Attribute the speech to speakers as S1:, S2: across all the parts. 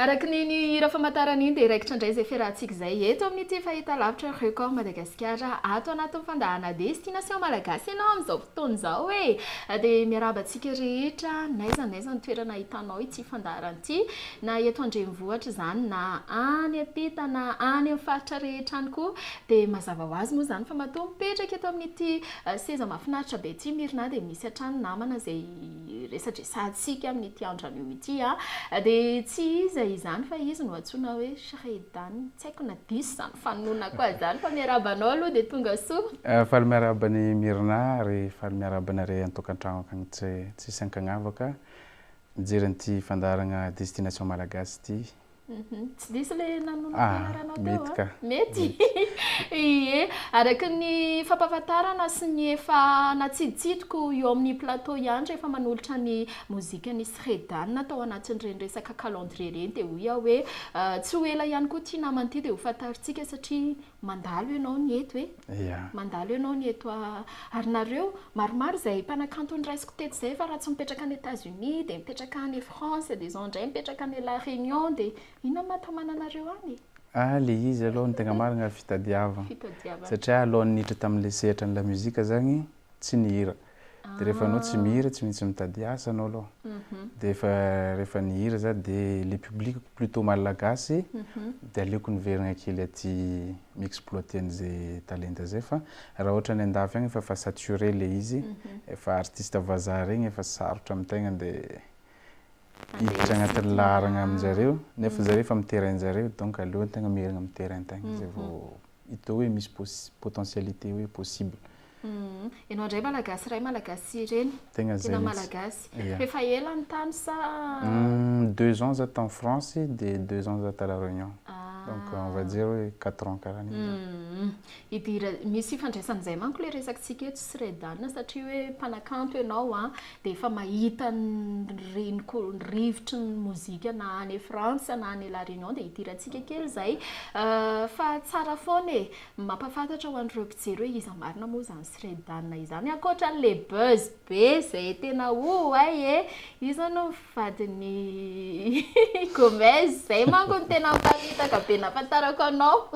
S1: Araka ny ny hira famantarana iny dia raikitra indray izay fiarahantsika izay eto amin'ity fahitalavitra Record Madagasikara ato anatin'ny fandahana Destination Malagasy ianao amin'izao fotoana izao e! Dia miarahaba antsika rehetra n'aiza n'aiza ny toerana ahitanao ity fandaharana ity na eto an-drenivohitra izany na any am-pita na any amin'ny faritra rehetra any koa dia mazava ho azy moa izany fa matoa mipetraka eto amin'ity seza mahafinaritra be ity Myrna dia misy hatrany namana izay iresadresantsika amin'ity andro anio ity dia tsy iza izany fa izy no antsoina hoe Shredan tsy haiko na diso izany fanononako azy izany fa miarahaba anao aloha dia tonga soa. Faly miarahaba an'i
S2: Myrna ary faly miarahaba anareo an-tokantrano akagny tsisy ankagnavaka mijery an'ity fandaharagna Destination Malagasy ity. Mhm. Tsy diso
S1: le nanolo ah, fianaranao teo mety ah. ka.
S2: Mety.
S1: Ie, araka ny fampahafantarana sy ny efa natsiditsidiko eo amin'ny plateau ihany rehefa manolotra ny mozikan'i Sredan tao anatin'ireny resaka calendrier ireny dia hoy aho hoe ah, tsy ho ela ihany koa ity namana ity dia ho fantarintsika satria Mandalo ianao ny eto e! Mandalo ianao ny eto ary nareo maromaro izay mpanakanto noraisiko teto izay fa raha tsy mipetraka any Etats Unis dia mipetraka any France dia izao indray mipetraka any La Réunion dia inona no mahatamana anareo any e? Ah ilay izy
S2: aloha no tegna marigna fitadiavagna satria alohan'ny niditra tamin'ilay sehatran'ny lamusique zagny tsy nihira. Dia rehefa anao tsy mihira, tsy maintsy mitady asa anao aloha. Dia efa rehefa nihira za dia le public plutôt malagasy dia aleoko niverina kely aty mi-exploiter an'izay talenta zay fa raha ohatra any an-dafy any efa fa saturé le izy, efa artiste vazaha regny efa sarotra amin-tegna dia hiditra agnatin'ny laharagna amin-jareo nefa zareo efa amin'ny terrain-jareo donc aleo an-tegna miherigna amin'ny terrain-tegna zay vao atao hoe misy potentialite hoe possible. Ianao
S1: indray malagasy iray malagasy reny, tena malagasy. Fa efa ela ny tany sa? Deux
S2: ans za tany France dia deux ans za tany La Réunion. Donc on va dire hoe quatre ans karaha an'iny
S1: zany. Misy ifandraisany izay manko ilay resakitsika eto sy Redana satria hoe mpanakanto ianao an, dia efa mahita ny reniko, ny rivotry ny mozika na any France na any La Réunion dia hidirantsika kely izay fa tsara foana e! mampahafantatra ho an'ireo mpijery hoe iza marina moa izany Sredana izany ankoatra an'le buzz be izay tena oay e! io izao no vadin'i Gomez, izay manko no tena mpamitaka be nahafantarako anao,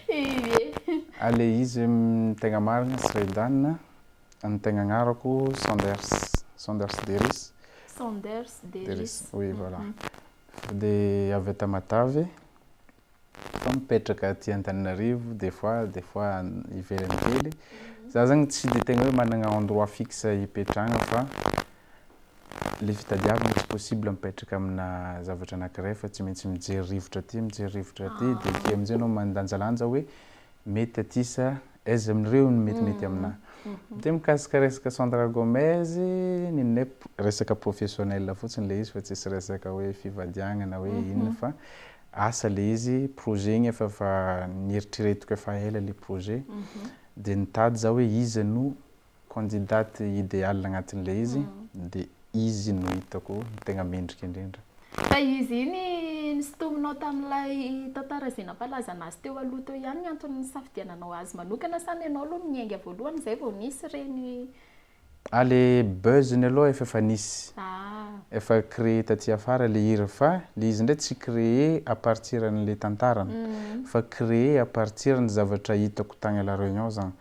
S1: ie.
S2: Ary le izy hoe tegna marina Sredana Ny tegna agnarako Sanders, Sanders Deris. Sanders Deris. Oui, voilà. Dia avy eto Matavy, fa mipetraka aty Antananarivo des fois, des fois any ivelany kely. Za zany tsy dia tegna hoe managna endroit fixe hipetrahagna fa le fitadiavagna tsy possible mipetraka amina zavatra anankiray fa tsy maintsy mijery rivotra aty, mijery rivotra aty, dia aty am'zay anao mandanjalanja hoe Mety aty sa aiza amin'ireo no metimety aminà? Dia mikasika resaka Sandra Gomez, nino ny hoe resaka professionnel fotsiny ilay izy fa tsisy resaka hoe fivadianana hoe inona fa asa ilay izy, projet igny efa efa nieritreretiko efa ela ilay projet dia nitady za hoe iza no Candidate idéale agnatin'ilay izy dia izy no hitako tegna mendrika indrindra. Fa izy iny
S1: nisintominao tamin'ilay tantara izay nampalaza anazy teo aloha teo ihany ny antony nisafidiananao azy manokana sa ny anao aloha no niainga voalohany izay vao nisy ireny Ah le
S2: buzz-ny aloha efa efa nisy. Efa créé taty afara le hira fa le izy ndray tsy créé à partir an'le tantarany fa créé à partir ny zavatra hitako tagny à la réunion zany.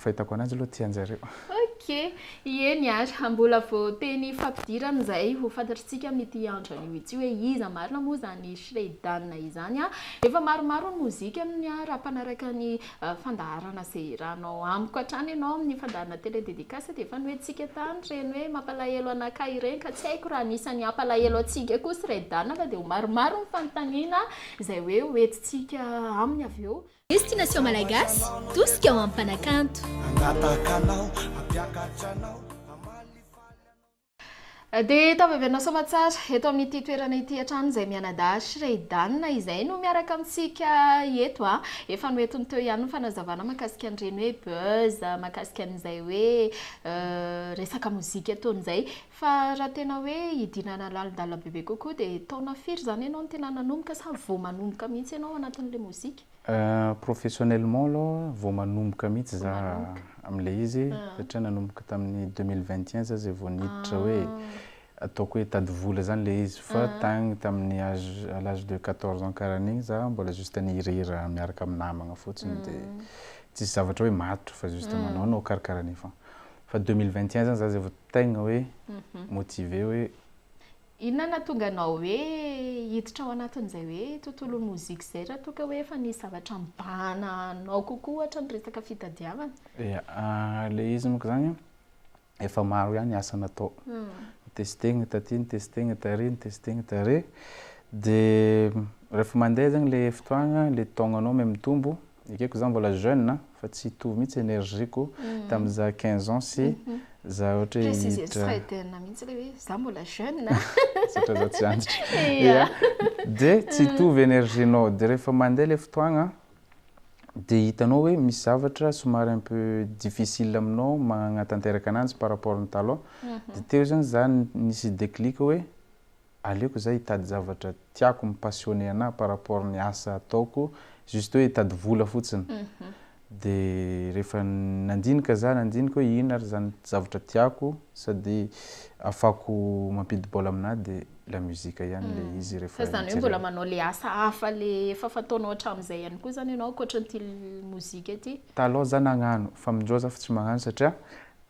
S2: Fahitako an'azy aloha tia anjareo. Ok,
S1: eny ary, mbola vao teny fampidirana izay ho fantatritsika amin'ity andro anio ity hoe iza marina moa izany Shredan izany an! Efa maromaro ny mozikany an! Raha mpanaraka ny fandaharana izay hiranao amiko hatrany ianao amin'ny fandaharana Télé Dédicace dia efa nohentsika tany ireny hoe mampalahelo anakahy ireny ka tsy haiko raha anisan'ny hampalahelo antsika koa Shredan fa dia ho maromaro ny fanontaniana izay hoe hoentintsika aminy avy eo. Destination Malagasy,
S3: tosika ho am-panakanto.
S1: Dia tavy avy anao Soamatsara, eto amin'ity toerana ity hatrany izay mianadahy sy Ray Dan izay no miaraka amintsika eto a. Efa noentiny teo ihany ny fanazavana mahakasika an'ireny hoe buzz, mahakasika an'izay hoe resaka mozika ataony izay. Fa raha tena hoe hidinana lalindalabe be kokoa dia taona firy zany ianao no tena nanomboka sa vao manomboka mihitsy ianao ao anatin'ilay mozika? Professionnellement
S2: aloha vao manomboka mihitsy za amin'ilay izy satria nanomboka tamin'ny deux mille vingt et un za izay vao niditra hoe ataoko hoe hitady vola zany ilay izy fa tagny tamin'ny âge à l'âge de quatorze ans karaha an'igny za mbola juste nihirahira miaraka amin'ny namagna fotsiny dia tsisy zavatra hoe matotra fa juste manaonao karakaraha an'igny fogna fa deux mille vingt et un zany za izay vao Tegna hoe motiver hoe. Inona
S1: nahatonga anao hoe hiditra ao anatin'izay hoe tontolon'ny mozika izay raha toa ka hoe efa nisy zavatra nibahana anao kokoa ohatra ny resaka fitadiavana? Ya,
S2: ilay izy monko zany an, efa maro ihany asa natao, nitestegna taty, nitestegna tary, nitestegna tary, de rehefa mandeha zegny le fotoagna, le taognanao me mitombo, Ekeko za mbola jeune a, fa tsy hitovy mihitsy energie ko tamin'ny za quinze ans sy za ohatra hoe hiditra. Precisez tsra edy anah
S1: mihitsy ilay hoe za mbola jeune a. Satria za tsy
S2: antitra. Ia. Dia tsy hitovy energie nao, dia rehefa mandeha ilay fotoagna dia hitanao hoe misy zavatra somary un peu difficile aminao magnatanteraka ananjy par rapport ny taloha, dia teo zany za nisy déclic hoe aleoko za hitady zavatra tiako mi passionner anahy par rapport ny asa ataoko juste hoe hitady vola fotsiny de rehefa nandinika za nandinika hoe inona ary zany zavatra tiako sady afako mampidi bola aminahy de la musique ihany le izy rehefa fa zany hoe mbola manao le
S1: asa hafa le efa fataonao hatramizay ihany koa zany ianao ankoatran'ity mozika ity? taloha za nagnano
S2: fa amindreo za fa tsy magnano satria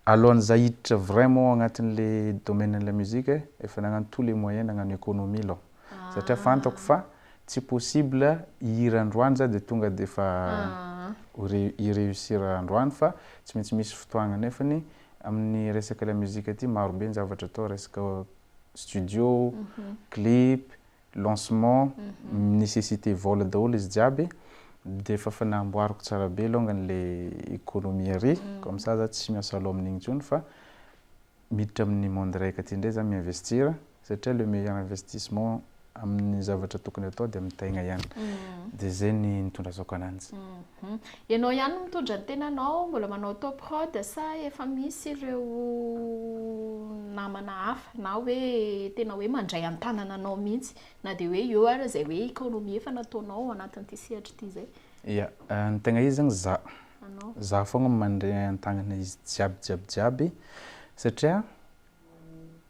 S2: Alohan'ny za hiditra vraiment agnatin'le domaine-n'la musique, efa nagnano tout le moyen nagnano economie aloha. Satria fantako fa tsy possible hihira androany za de tonga de efa hi-reussir androany fa tsy maintsy misy fotoagna. Nefany amin'ny resaka la musique ty maro be ny zavatra atao, resaka studio, clip, lancement, nécessité vola daholo izy jiaby dia efa efa namboariko tsara be longany le economie ary comme ça za tsy miasa loha amin'igny intsony fa miditra amin'ny monde raika ty ndray za mi-investir satria le meilleur investissement amin'ny zavatra tokony atao dia amin'ny tegna ihany dia zay ny nitondrasako ananjy. Ianao
S1: ihany no mitondra ny tenanao, mbola manao auto prod sa efa misy ireo namana hafa na hoe tena hoe mandray an-tanana anao mihitsy na dia hoe eo ary izay hoe economie efa nataonao ao anatin'ity sehatra ity izay? Ia, ny
S2: tegna izy zany za, za fogna mandray an-tagnana izy jiaby jiaby jiaby satria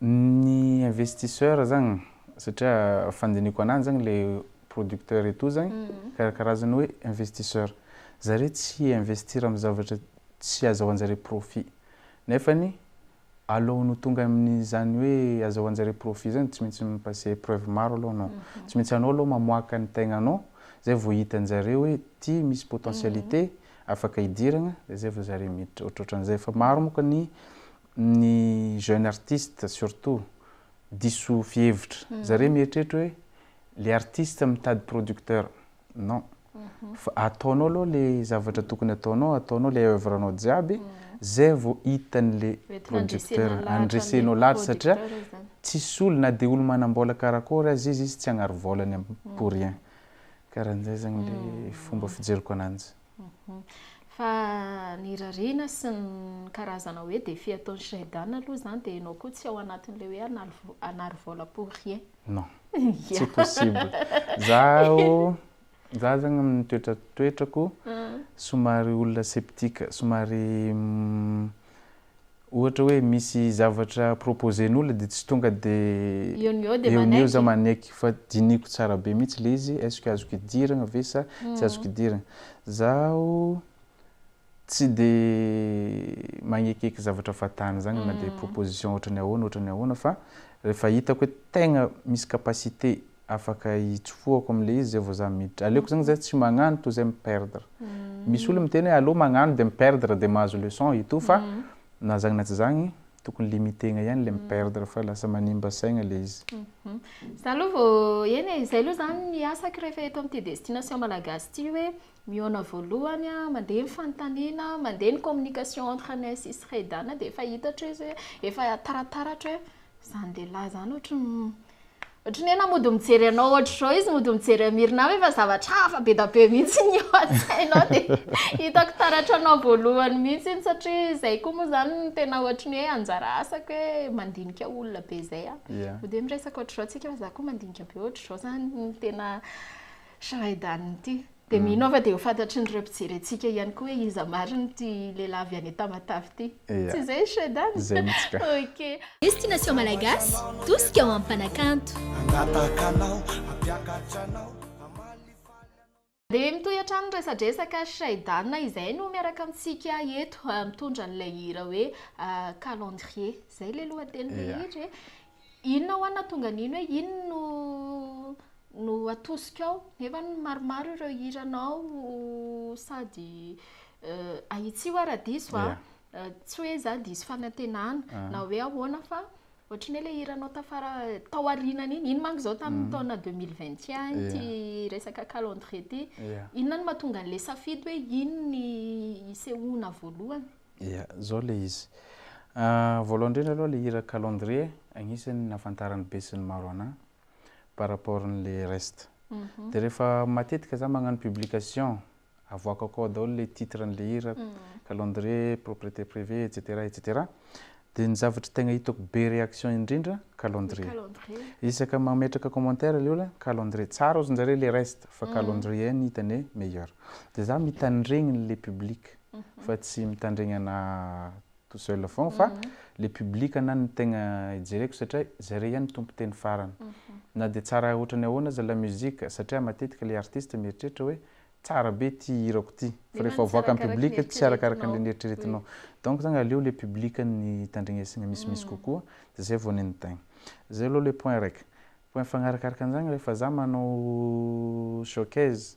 S2: Ny investisseur zany satria fandiniko anany zany le producteur etoa zany karakarazany hoe investisseur zare tsy hi investir am zavatra tsy azahoanjare profit nefany aloany ho tonga am zany hoe azahoanjare profit zany tsy maintsy mi passer preuve maro aloha anao tsy maintsy anao aloha mamoaka ny tegnanao zay vao hitanjare hoe ty misy potentialite afaka hidiragna de zay vao zare miditra ohatrohatranzay fa maro moko ny ny jeune artiste surtout diso fihevitra zareo mieritreritra hoe le artiste mitady producteur non fa ataonao aloha le zavatra tokony ataonao ataonao le oeuvre nao jiaby zay vao hitany le producteur andresenao lahatra satria tsisy olo na de olo manambola karakory aza izy izy tsy agnary volany pour rien karanjay zany le fomba fijeriko ananjy Fa
S1: ny rariana sy ny karazana hoe défi ataon'i Shredana aloha izany dia ianao koa tsy ao anatin'ilay hoe hanary vola pour rien. Non.
S2: Tsy possible. Zaho za zany amin'ny toetra toetrako somary olona sceptique, somary Ohatra hoe misy zavatra proposen'olona dia tsy tonga dia Eo no eo dia eo no eo za manaiky. manaiky fa dinihiko tsara be mihitsy le izy est-ce que azoko idiragna ve sa tsy azoko idiragna. Zaho tsy de magnekieky zavatra fatana zany na dia proposition ohatran'ny ahoana ohatran'ny ahoana fa rehefa hitako hoe tegna misy capacité afaka itsofohako amle izy zay vao za miditra, aleoko zany za tsy magnano toy zay mi perdre, misy olo miteny hoe aleo magnano de mi perdre de mahazo leçon et tout fa na zany na tsy zany tokony limiter-na ihany le mi perdre fa lasa manimba saigna le izy. Za aloha
S1: vao, eny e, zay aloha zany ny asako rehefa eto amin'ity destination malagasy ity hoe Mihaona voalohany a, mandeha ny fanontaniana, mandeha ny communication entre anay sy Sredan dia efa hitatro izy hoe efa tarataratra hoe izany lehilahy izany ohatry ny ohatry ny hoe na mody mijery anao ohatr'izao izy mody mijery an'i Myrna hoe efa zavatra hafa be da be mihitsy ny eo an-tsainao dia hitako taratra anao voalohany mihitsy iny satria izay koa moa izany no tena ohatry ny hoe anjara asako hoe mandinika olona be izay aho. Mody hoe miresaka ohatr'izao tsika fa za koa mandinika be ohatr'izao izany no tena Shahedany ity. Dia mino aho fa dia ho fantatrin'ireo mpijery antsika ihany koa hoe iza marina ity lehilahy avy any Tamatave ity. Tsy izay ry Shahedany? Izay mihitsy ka. Ok.
S2: Destination
S1: Malagasy,
S3: tosika ho amim-panakanto. Hangataka anao, hampiakatra anao,
S1: hamalifaly anao. Dia mitohy hatrany ny resadresaka, Shahedany izay no miaraka amintsika eto, mitondra an'ilay hira hoe Calendrier. Izay ilay lohatenin'ilay hira e. Inona hoa no nahatonga an'iny hoe iny no no atosikao? Nefa maromaro ireo hiranao sady ahitsio aho raha diso a, tsy hoe izaho diso fanantenana na hoe ahoana fa ohatran'ny hoe ilay hiranao tafara tao aorianany iny, iny manko izao tamin'ny taona deux mille vingt et un ity resaka calendrier ity, inona no mahatonga an'ilay safidy hoe iny no hisehoana voalohany? Ia, zao le
S2: izy. Voalohany indrindra aloha le hira calendrier agnisan'ny nahafantaran'ny be sy ny maro anahy par rapport an'le reste. De rehefa matetika za magnano publication avoakako ao daholo le titre an'le hira, calendrier, propriété privée, etc etc. De ny zavatra tegna hitako be réaction indrindra calendrier. Isaka mametraka commentaire le olona calendrier, tsara ozy njare le reste fa calendrier no hitany hoe meilleur. De za mitandregny le publique fa tsy mitandregnana tout seul foagna fa le public ana no tegna ijereko satria zare ihany tompon-teny farany na dia tsara ohatran'ny ahoana aza la musique satria matetika le artiste mieritreritra hoe tsara be ty hirako ty fa rehefa avoaka amin'ny public tsy arakaraka an'le nieritreretinao donc zany aleo le public no itandregnesagna misimisy kokoa de zay vao nenitaigny zay aloha le point raiky point fagnarakaraka an'izany rehefa za manao showcase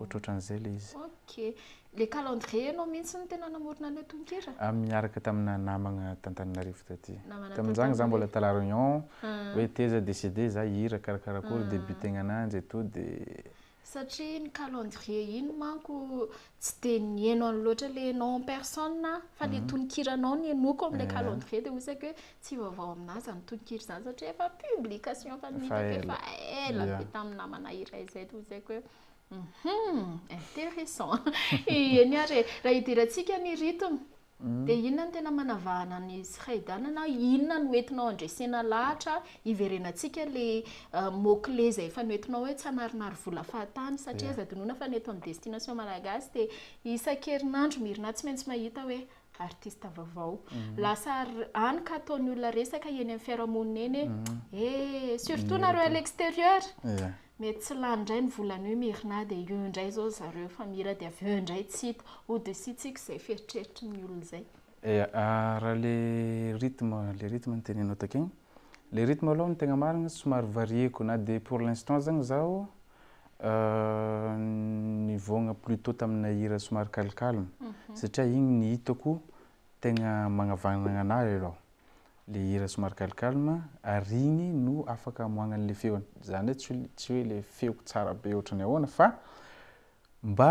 S2: ohatrohatran'izay le izy. Ok. Le
S1: calendrier ianao mihitsy no tena namorona an'ilay tononkira? Ah, miaraka tamina
S2: namagna t'Antananarivo taty. Namana Tamin'izany za t'Antananarivo. mbola tala Réunion, Ah. hoe teza de cede za hihira karakara akory, Ah. début tegna ananjy et tout de. Satria iny
S1: calendrier iny manko tsy dia nihaino an'i loatra le ianao en personne aho, fa le tononkiranao no henoiko amin'ilay Ah. calendrier dia hoy saika hoe Tsy vaovao aminà izany tononkira izany satria efa publication efa nitako efa ela be tamin'ny namana iray izay toy izay koa hoe hum intéressant eny ary e raha idirantsika ny rythme hmm. dia inona no tena manavahana ny sraidana na inona no entinao andresena lahatra iverenantsika le euh, mokle izay efa noentinao hoe tsy hanarinary vola fahatany satria aza dinona fa ny eto amin'ny destination malagasy dia isan-kerinandro mirina tsy maintsy mahita hoe artiste vaovao lasa any ka ataon'ny olona resaka eny amin'ny fiarahamonina eny e eh surtout nareo à l'extérieur mety tsy lany indray ny volana io Myrna dia io indray izao ry zareo efa mihira dia avy eo indray tsy hita hodisihintsika izay fieritreritry ny olona izay eh raha
S2: le rythme le rythme no tenenao takeo le rythme aloha no tegna marigny somary varier-ko na dia pour l'instant aza zaho Nivoagna plutôt tamina hira somary calme calme satria igny ny hitako tegna magnavagnagna anahy aloha le hira somary calme calme ary igny no afaka amoahagna anle feony zany hoe tsy hoe le feoko tsara be ohatrany ahoana fa mba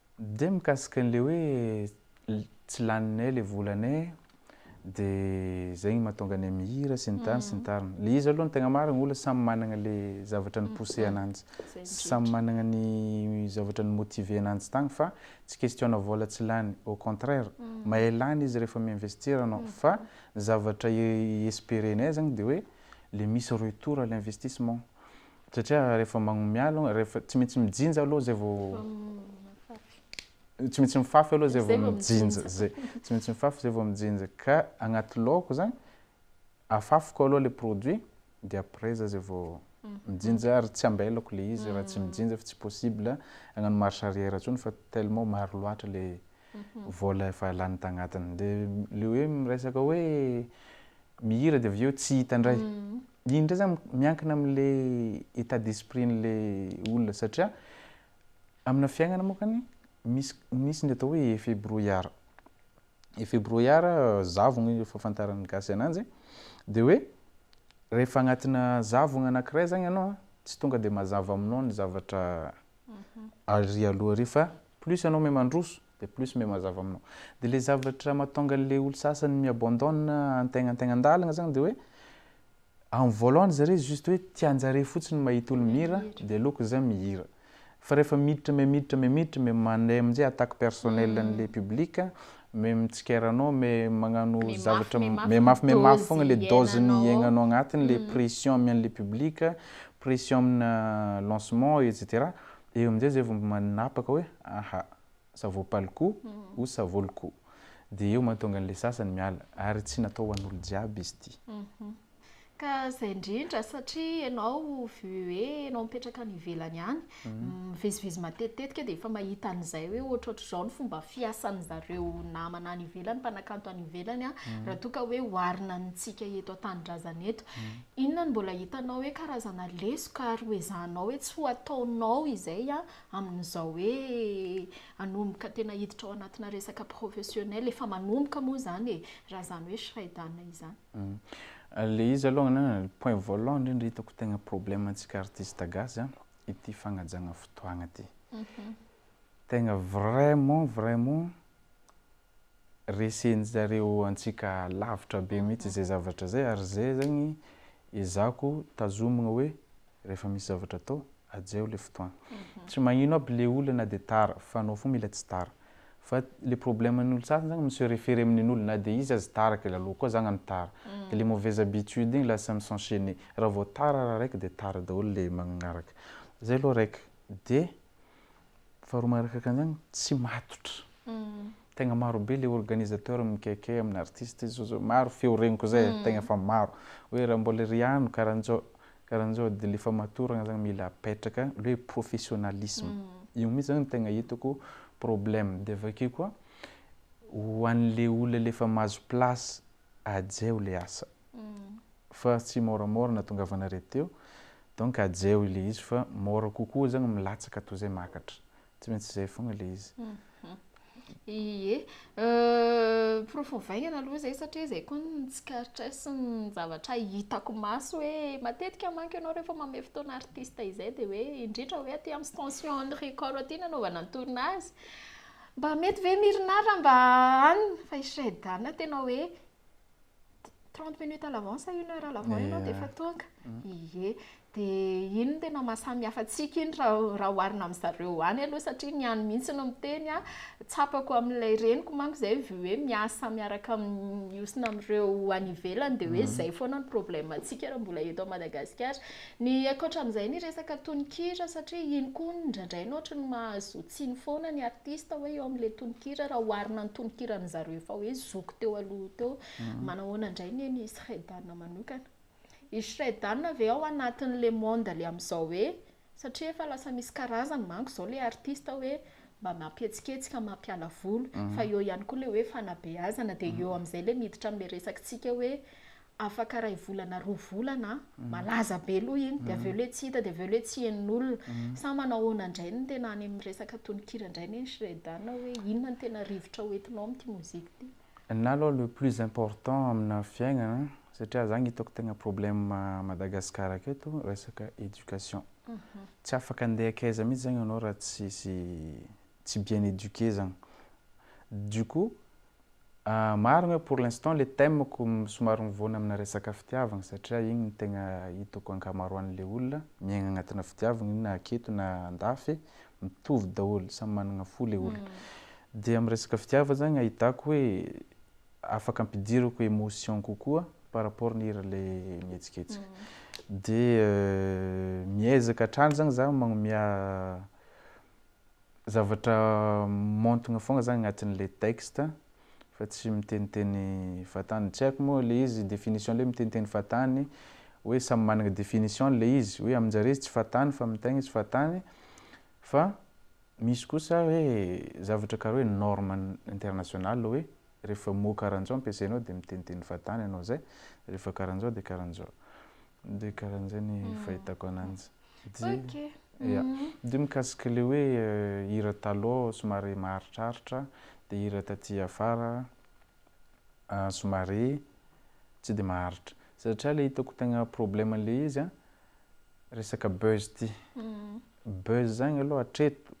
S2: Dia mikasika an'ilay hoe tsy laninay ilay volanay dia izay no mahatonga anay mihira sy ny tariny sy ny tariny. Ilay izy aloha ny tegna marina olona samy managna ilay zavatra ni-pousser ananjy, samy managna ny zavatra ni-motiver ananjy tagny fa tsy question-na vôla tsy lany, au contraire mahay lany izy rehefa mi-investir anao fa ny zavatra i-esperer-nay zagny dia hoe le misy retour à l'investissement. Satria rehefa magnomia aloha, rehefa tsy maintsy mijinja aloha zay vao, tsy maintsy mifafy aloha zay vao mijinja, zay, tsy maintsy mifafy zay vao mijinja, ka agnaty laoko zany, afafiko aloha le produit, de après za zay vao mijinja, ary tsy ambelako le izy raha tsy mijinja fa tsy possible agnano marche arrière tsony fa tellement maro loatra le vola efa lany tagnatiny, de le hoe miresaka hoe mihira de avy eo tsy hita ndray, Iny ndray zany miankina amle etat d'esprit n'le olona satria amina fiaignana mokany misy misy ny atao hoe effet brouillard effet brouillard zavogna io fahafantaran'ny gasy ananjy de hoe rehefa agnatina zavogna anakiray zany anao a tsy tonga de mazava aminao ny zavatra ary aloha ary fa plus anao mahay mandroso De plus me mazava aminao. De le zavatra matonga anle olo sasany mi abandonne antegna antegna andalagna zagny de hoe am voalohany zare juste hoe tianjare fotsiny mahita olo mihira de aleoko za mihira fa refa miditra me miditra me miditra me mandray amzay attaque personnel anle public me mitsikera anao me magnano zavatra me mafy me mafy fogna le dose ny iegnanao agnatiny le pression amy anle public pression amina lancement etc Eo amin'izay izay vao manapaka hoe aha, ça vaut pas le coup ou ça vaut le coup. Dia eo mahatonga an'ilay sasany miala. Ary tsy natao ho an'olo jiaby izy ity. Ka
S1: izay indrindra, satria ianao vu hoe ianao mipetraka any ivelany any, mivezivezy matetitetika dia efa mahita an'izay hoe ohatrohatr'izao ny fomba fiasan'ny zareo namana any ivelany, mpanakanto any ivelany, raha toa ka hoe oharina amintsika eto an-tanindrazana eto. Inona no mbola hitanao hoe karazana lesoka ary ho ezahanao hoe tsy ho ataonao izay amin'izao hoe hanomboka tena hiditra ao anatina resaka professionnel, efa manomboka moa izany e, raha izany hoe Shraidana izany? Ilay izy
S2: aloha angamba ny point voalohany indrindra hitako tegna problème antsika artiste gasy a, ity fagnajagna fotoagna ity. Tegna vraiment vraiment resen'ny zareo antsika lavitra be mihitsy izay zavatra izay ary izay zany ezahako tazomina hoe rehefa misy zavatra atao ajaio le fotoana tsy magnino aby le olona na de tara fa anao fo mila tsy tara fa le problème ny olo sasany zany mi-se referer amin'ny nen'olo na de izy aza tara kay lalao koa zagna ny tara de le mauvaise habitude igny lasa mi-s'enchainer raha vao tara raha raiky de tara daholo le magnaraka zay aloha raiky de Faharoa manaraka an'izany, tsy matotra. Tegna maro be le organisateur mikaikay amin'ny artiste izy zao, maro feo regniko zay e, tegna efa maro. Hoe raha mbôla ry ano karanjao, karanjao de le famatoragna zany mila apetraka, le hoe professionnalisme. Io mitsy zany tegna hitako problème. De avake koa, ho an'le olona le efa mahazo place, ajeo le asa fa tsy moramora natongavana re teo donc ajeo ilay izy fa mora kokoa zany milatsaka toy zay makatra tsy maintsy zay fogna le izy
S1: Ie, porofo ovaigna aloha zay satria zay koa no tsikaritra ahy sy ny zavatra hitako maso hoe matetika manko ianao rehefa manome fotoana artiste izay dia hoe indrindra hoe aty amin'ny station Henri Corot aty no nanaovana ny tournage, Mba mety ve Myrna raha mba any fa i Shredana tena hoe trente minutes à l'avance sa une heure à l'avant ianao dia efa tonga? Ie. Dia iny no tena maha samy hafa antsika iny raha oharina amin'ny zareo any aloha satria ny any mihitsy no miteny an, tsapako amin'ilay reniko manko izay hoe miasa miaraka mihosina amin'ireo any ivelany dia hoe izay foana no problème antsika raha mbola eto Madagasikara. Ny ankoatra amin'izay ny resaka tononkira satria iny koa indraindray no ohatry ny mahazo tsiny foana ny artista hoe eo amin'ilay tononkira raha oharina ny tononkiran'ny zareo efa hoe zoky teo aloha teo. Manahoana indray anie ny Shredana manokana? I Shredana ve ao anatin'ilay monde le amin'izao hoe satria efa lasa misy karazany manko izao ilay artista hoe mba mampihetsiketsika mampiala voly fa eo ihany koa ilay hoe fanabeazana dia eo amin'izay ilay miditra amin'ilay resakitsika hoe afaka iray volana roa volana mhm. malaza be aloha iny dia avy eo mhm. le tsy hita dia avy eo le tsy henon'olona mhm. sa manahoana indray ny tena any amin'ny resaka tononkira indray ny shredana hoe inona ny tena rivotra ho entinao amin'ity mozika ity na aloha le
S2: plus important amina fiainana satria zany hitako tegna problème Madagascar aketo resaka éducation tsy afaka andeha akaiza mihitsy zagny ianao raha tsisy tsy bien éduqué zany. Du coup, marigny hoe pour l'instant le thème ko somary mivoana amina resaka fitiavagna satria igny no tegna hitako ankamaroanle olona miaigna agnatina fitiavagna io na aketo na andafy mitovy daholo samy managna fo le olona dia am resaka fitiavagna zany ahitako hoe afaka ampidirako émotion kokoa par rapport ny hira le mihetsiketsika dia miezaka hatrany zany za magnomea zavatra montigna fogna zany agnatin'le texte fa tsy miteniteny vatany, tsy haiko moa le izy définition le miteniteny vatany hoe samy managna définition-ny le izy hoe amin-jare izy tsy vatany fa amin-tegna izy vatany fa misy kosa hoe zavatra karaha hoe norme international hoe rehefa mot karaha-njao ampiasainao de miteniteny vatany anao zay, rehefa karaha-njao de karaha-njao. Dia karan'izay ny fahitako ananjy. Ok. Ya. Dia mikasika ilay hoe hira taloha somary maharitraritra, dia hira taty afara somary tsy dia maharitra. Satria ilay hitako tegna problème an'ilay izy an, resaka buzz ity. Buzz zany aloha hatreto,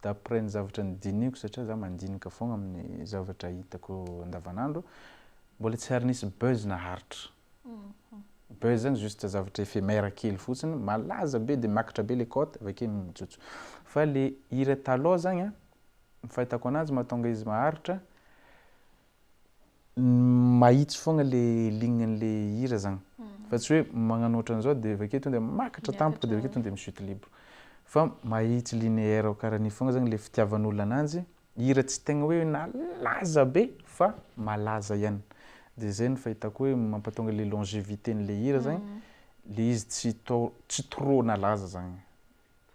S2: d'après ny zavatra nodinihiko satria za mandinika foagna amin'ny zavatra hitako andavanandro, mbola tsy ary nisy buzz naharitra. Buzz zany juste zavatra éphémère kely fotsiny, malaza be de makitra be le cote avy akeo mijotso. Fa le hira taloha zany an, ny fahitako ananjy mahatonga izy maharitra, ny mahitsy fogna le ligne an'le hira zany, fa tsy hoe magnano ohatran'izao de avy akeo tonga de makitra tampoka de avy akeo tonga de mi-chute libre, fa mahitsy linéaire karaha an'io fogna zany le fitiavan'olona ananjy Hira tsy tegna hoe nalaza be fa malaza ihany. Dia zay no fahitako hoe mampatonga le longevité n'le hira zany, le izy tsy tao tsy trop nalaza zagny.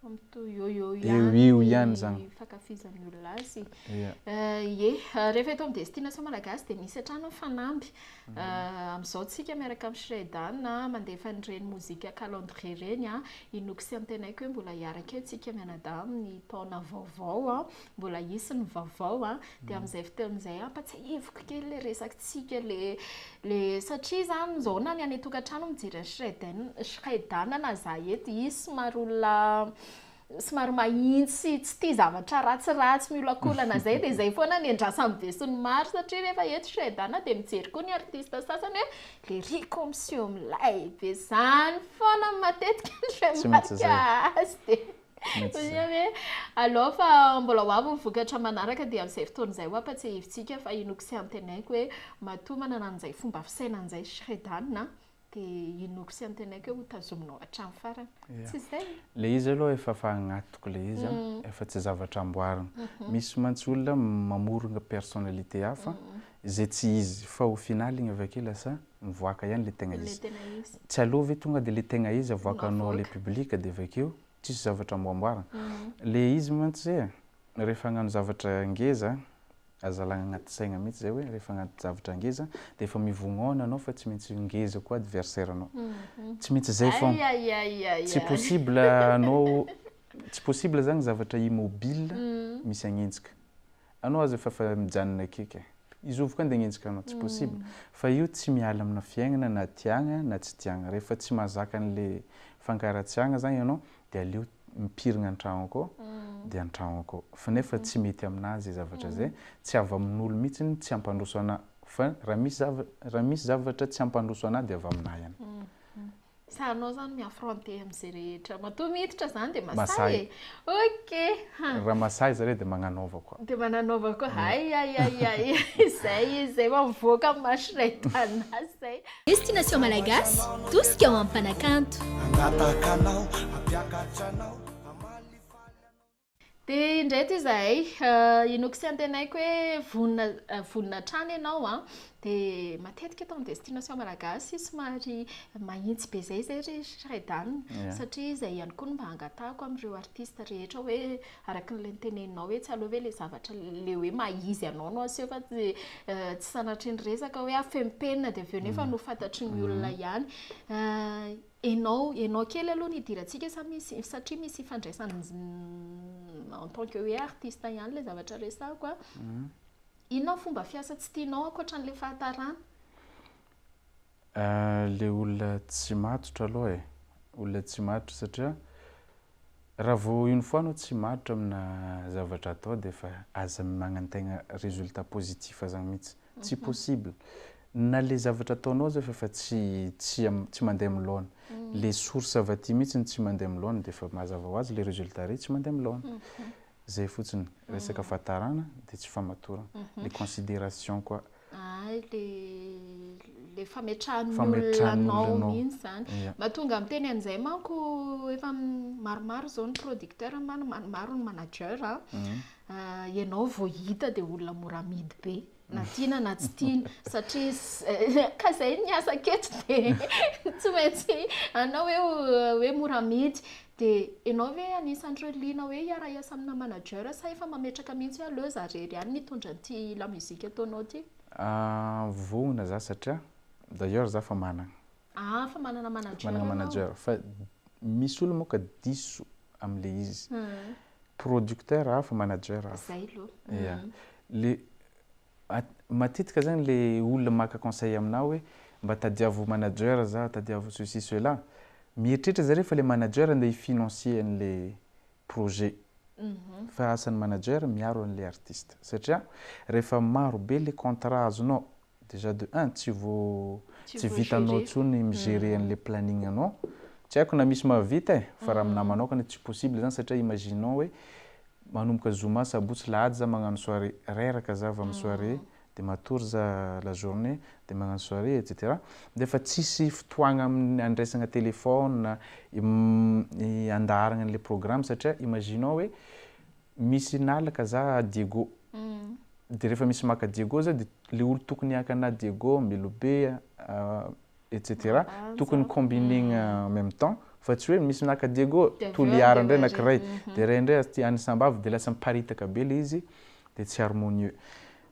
S2: Fa mitohy eo eo ihany eo ihany zany ny fankafizan'ny olona
S1: azy. Ia. Ye, rehefa eto amin'ny destination malagasy dia misy hatrany ny fanamby Amin'izao tsika miaraka amin'i Shredan mandefa an'ireny mozika calendrier ireny an, inoako sy antenaiko hoe mbola hiaraka eo tsika mianadahy amin'ny taona vaovao an, mbola hisy ny vaovao an, dia amin'izay fotoana izay ampatsiahiviko kely ilay resakitsika le le satria izany izao na ny any an-tokantrano mijery an'i Shredan Shredan na izaho eto hisy somary olona somary mahintsy tsy tia zavatra ratsiratsy miolakolana zay dia zay foana ny andrasan'ny besin'ny maro satria rehefa eto chez Dana dia mijery koa ny artiste sasany hoe lerico miseho milay be zany foana matetika ny remarque azy dia Onia hoe alou fa mbola ho avy ny vokatra manaraka dia amin'izay fotoana izay ho ampatsiahivintsika fa inoako sy antenaiko hoe matoa manana an'izay fomba fisainana izay chez Dana dia inoako sy antenaiko hoe hotazominao hatramin'ny farany. Tsy izay? Ilay izy aloha efa
S2: efa agnatiko ilay izy an, efa tsy zavatra amboarina. Misy mantsy olona mamorona personnalité hafa izay tsy izy fa au final iny avy ake lasa mivoaka ihany ilay tegna izy. Tsy aleo ve tonga dia ilay tegna izy avoakanao ilay public dia avy akeo tsisy zavatra amboamboarina. Ilay izy mantsy rehefa hagnano zavatra ngeza Aza alagna agnaty saigna mihitsy zay hoe rehefa agnaty zavatra ngeza dia efa mivognona anao fa tsy maintsy ngeza koa adversaire anao. Tsy maintsy zay foagna. Tsy possible anao tsy possible zany zavatra immobile misy agnenjika. Anao aza efa efa mijanona akaiky e. Izy io avy koa andeha agnenjika anao. Tsy possible. Fa io tsy miala amina fiaignana na tiagna na tsy tiagna. Rehefa tsy mahazaka an'ilay fankaratsiagna zany anao de aleo mipirigna antragnoko de antragnoko fa nefa tsy mety aminazy zavatra zay tsy avy amin'olo mitsiny tsy ampandroso ana fa raha misy zava raha misy zavatra tsy ampandroso ana de avy aminah ihany. Sa
S1: anao zany mi affronter amze rehetra matoa miditra zany de masahy e ok ha. Raha masahy
S2: zare de magnanaova koa. De magnanaova koa
S1: hay hay hay hay zay izy zay vao mivoaka am maso ray tana zay. Destination Malagasy,
S3: tosika ho amim-panakanto. Hangataka anao, hampiakatra anao, hamalifaly
S1: anao. Dia indray ity izahay, inoako sy antenaiko hoe vonona vonona hatrany ianao an! Dia matetika eto amin'ny Destination Malagasy somary mahitsy be izay izay ry Shreddan, satria izay ihany koa no mba angatahako amin'ireo artistes rehetra hoe Araka ilay niteneninao etsy aloha ve ilay zavatra ilay hoe maha-izy anao no aseho fa tsy tsy sanatria ny resaka hoe afenimpenina dia avy eo nefa no fantatry ny olona ihany. Ianao ianao kely aloha no idirantsika sa misy satria misy ifandraisany en tant que hoe artiste ihany ilay zavatra resahako a. Inona ny fomba fiasa tsy tianao ankoatra an'ilay fahatarana?
S2: Le olona tsy matotra aloha e, olona tsy matotra satria raha vao une fois anao tsy matotra amina zavatra atao dia efa aza magnantegna résultat positif zany mihitsy, tsy possible, na le zavatra ataonao aza efa tsy tsy tsy mandeha amin'ny laona, le source avy aty mihitsy no tsy mandeha amin'ny laona dia efa mazava ho azy le résultat re tsy mandeha amin'ny laona. Zay fotsiny, resaka fahatarana dia tsy famatorana, le consideration koa. Hay le
S1: le fametrahan'ny olona anao Fametrahan'ny olona anao. mihitsy izany. Ia. Mba tonga miteny an'izay manko efa maromaro izao ny producteur ma- maromaro ny manager a, ianao vao hita dia olona mora amidy be. na tiana na tsy tiana satria ka zay ny asako eto dia tsy maintsy anao hoe hoe mora amidy dia ianao ve anisan'ireo liana hoe hiara-hiasa amina manager sa efa mametraka mihitsy hoe aleo za irery ihany ny hitondra an'ity la musique ataonao ity? Vohona
S2: za satria d'ailleurs za efa manana Ah fa manana
S1: manager anao. Manana manager fa
S2: misy olona moa ka diso amle izy. Producteur hafa manager hafa. Zay aloha. Ya.
S1: Le
S2: matetika zany le olona maka conseil aminah hoe mba tadiavo manager za tadiavo ceci cela. Mieritreritra zareo fa le manager andeha hi financer anle projet. Fa asan'ny manager miaro anle artiste. Satria rehefa maro be le contrat azonao Déjà de un tsy vo tsy vitanao tsony mi-gerer anle planning anao, tsy haiko na misy mahavita e, fa raha aminahy manaokana tsy possible zany satria imaginons hoe manomboka zoma, sabotsy, lahady za magnano soirée, reraka za avy amin'ny soirée, de matory za la journée, de magnano soirée etc. Nefa tsisy fotoagna amin'ny andraisagna téléphone, andaharagna anle programme satria imaginons hoe Misy nalaka za à Diego de refa misy maka Diego za de le olo tokony haka ana Diego, Melobe etc tokony combinegna en meme temps fa tsy hoe misy naka Diego Toliara ndray anakiray de ray ndray aty any Sambava de lasa miparitaka be le izy de tsy harmonieux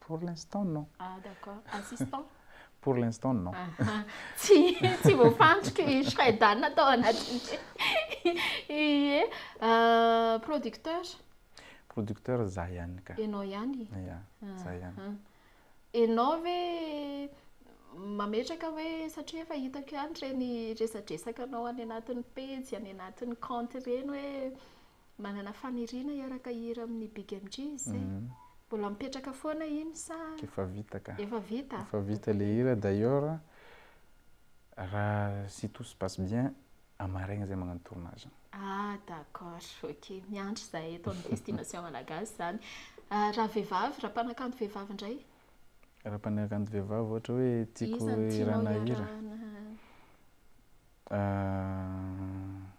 S1: Pour l'instant non. Ah
S2: d'accord, assistant? Pour l'instant non. Aha,
S1: tsy tsy voafandriky i Shredan tao anatin'ny ie producteur?
S2: Producteur za ihany ka. Ianao ihany? Ia,
S1: za
S2: ihany. Ianao
S1: ve mametraka hoe satria efa hitako ihany ireny resadresakanao any anatin'ny pejy, any anatin'ny kaonty ireny hoe Manana faniriana hiaraka hihira amin'ny Big MJ izy zay. Mbola mipetraka foana iny sa Efa vita ka. efa
S2: vita? Efa vita
S1: le hira
S2: d'ailleurs raha si tout se passe bien à maraina zay magnano tournage. Ah d'accord,
S1: ok. Miandry izahay eto amin'ny Destination Malagasy izany. Raha vehivavy, raha mpanakanto vehivavy indray? Raha
S2: mpanakanto vehivavy ohatra hoe tiako Iza no tianao hirana hira? hiarahana?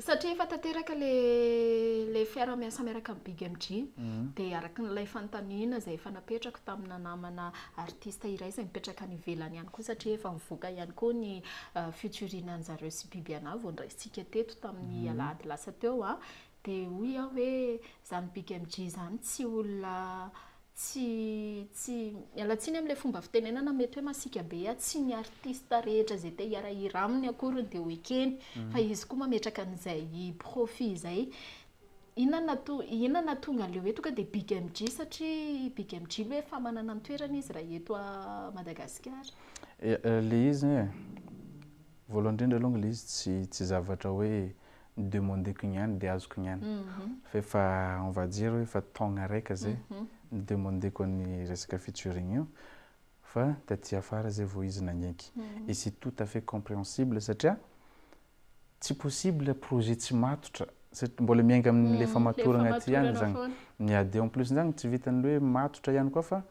S1: Satria efa tanteraka ilay fiaraha miasa miaraka amin'ny Big MJ, dia araka ilay fanontaniana izay efa napetrako tamina namana artiste iray izay mipetraka any ivelany any koa satria efa mivoaka ihany koa ny featuring an'i zareo sy Bibiana vao noraisitsika teto tamin'ny alahady lasa teo, Dia hoy aho hoe izany BigMG izany tsy olona tsy tsy miala tsiny amin'ilay fomba fitenenana mety hoe masiaka be aho, tsy ny artista rehetra izay te hiara-hira aminy akory no dia ho ekeny fa izy koa mametraka an'izay profit izay. Inona no nato- inona no nahatonga an'ilay hoe tonga dia BigMG satria BigMG aloha efa manana ny toerany izy raha eto Madagasikara? Ilay
S2: izy anie e, voalohany indrindra alongany ilay izy tsy tsy zavatra hoe ny demandeko ny any dia azoko ny any fa efa on va dire hoe efa taogna raika zay ny demandeko ny resaka featuring io fa taty afara zay vao izy nagnaiky et c'est tout à fait compréhensible satria tsy possible projet tsy matotra satria mbola miainga amin'ny lefa matoragna aty ihany zany ny ady en plus zany tsy vitan'ny hoe matotra ihany koa fa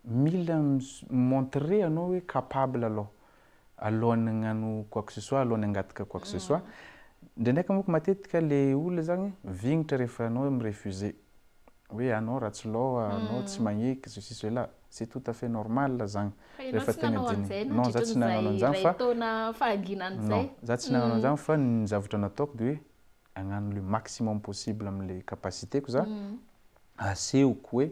S2: mila mi-montrer anao hoe capable aloha alohan'ny hagnano quoi que ce soit, alohan'ny hangataka quoi que ce soit. Ndraindraika manko matetika le olona zany vignitra rehefa anao mi-refuse. Hoe anao ratsy laoha, anao tsy magneky, ceci cela. C'est tout à fait normal zany rehefa tegna diniha. Non, za tsy nagnano an'izany fa. Non, za tsy nagnano an'izany fa ny zavatra nataoko de hoe hagnano le maximum possible am'le capacité-ko za, hasehoko hoe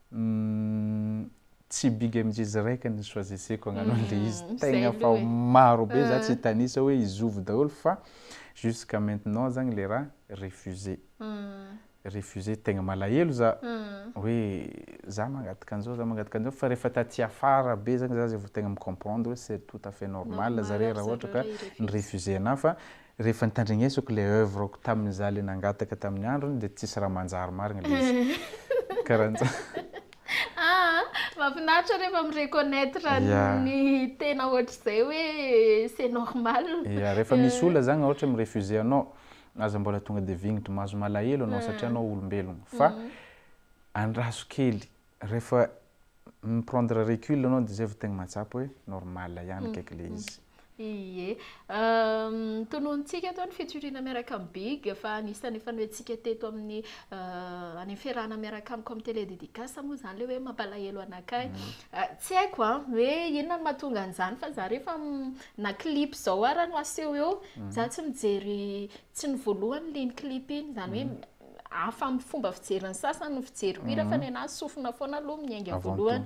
S2: Humm tsy big MJ Zrek ny choisisseko hagnano an'le izy Humm tegna zay fa aloha e maro be za tsy hitanisa hoe i Zovy daholo fa jusqu'à maintenant zagny le raha refusé refusé tegna malahelo za hoe za mangataka an'zao za mangataka an'zao fa rehefa taty afara be zagny za zay vao tegna mi-comprendre hoe c'est tout à fait normal zare raha ohatra ka ni-refusé anah fa Rehefa nitandregnesako le oeuvre-ko tamin'ny za le nangataka tamin'ny androny de tsisy raha manjary marigny le izy. Karanjany. Ah,
S1: mafinaritra rehefa mi-reconnaitre ny tena ohatr'izay hoe c'est normal. Ya, rehefa misy olona
S2: zagny ohatra hoe mi-refuser anao, aza mbola tonga de vignitry maso, malahelo anao satria anao olombelogno, fa andraso kely. Rehefa mi prendre recul anao dia izay vao tegna mahatsapa hoe normal ihany akaiky ilay izy. Ie.
S1: Notononintsika tao ny fijoriana miaraka amin'i Big fa anisan'ny efa noentintsika teto amin'ny any am-piarahana miaraka amiko amin'ny télé dédicace moa izany ilay hoe mampalahelo anakay. Tsy haiko an, hoe inona no mahatonga an'izany fa za rehefa na clip izao ara no aseho eo, za tsy mijery, tsy ny voalohany liny clip iny, izany hoe hafa amin'ny fomba fijery ny sasany ny fijeriko hira fa ny anahy sofina foana aloha miainga voalohany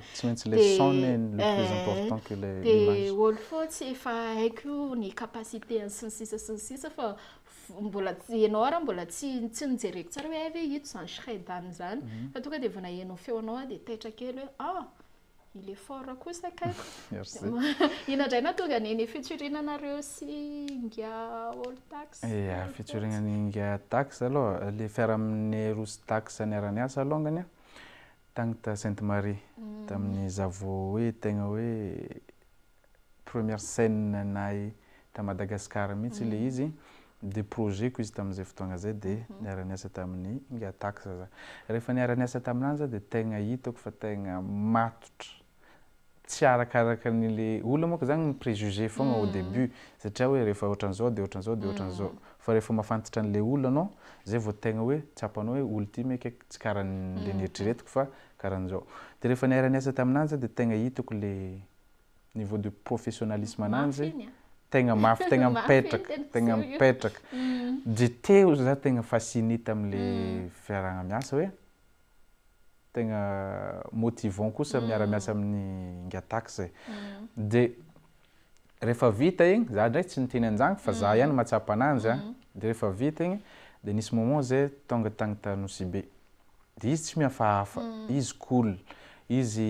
S2: dia olo foa tsy
S1: efa haiko ny capacité ny sy ny sisa sy ny sisa fa mbola ianao ary aho mbola tsy tsy nojereko tsara hoe hay ve ito izany shredany izany fa tonga dia vao naheno ny feonao aho dia taitra kely hoe ah Il est fort kosa kay. Merci.
S2: Ina indray
S1: nahatonga an'i Neny featuring anareo sy Inga All Tax. Ia, featuring an'i
S2: Inga Tax aloha, le fiarahamin'i Roa sy Tax niara-niasa alongany a, tagny ta Sainte Marie, tamin'ny zavo hoe tegna hoe première scène nahy ta Madagascar mihitsy le izy de projet ko izy tamin'izay fotoagna zay de niara-niasa tamin'i Ngatax za rehefa niara-niasa taminany za de tegna hitako fa tegna matotra tsy arakaraka ny le olona manko zany mi préjugé fogna au début satria hoe rehefa ohatran'izao de ohatran'izao de ohatran'izao fa rehefa mafantatra an'le olona anao zay vao tegna hoe tsapanao hoe olo ty meka tsy karan'le nieritreretiko fa karan'izao de rehefa niara-niasa taminany za de tegna hitako le niveau de professionnalisme ananjy tegna mafy tegna mipetraka tegna mipetraka de teo za tegna fasciné tamle fiarahana miasa hoe tegna motivant kosa miara miasa amin'ny ingatax e de rehefa vita igny za ndray tsy niteny anjagny fa za ihany mahatsapa ananjy a de rehefa vita igny de nisy moment zay tonga tagny ta Nosy Be de izy tsy mihafahafa izy cool izy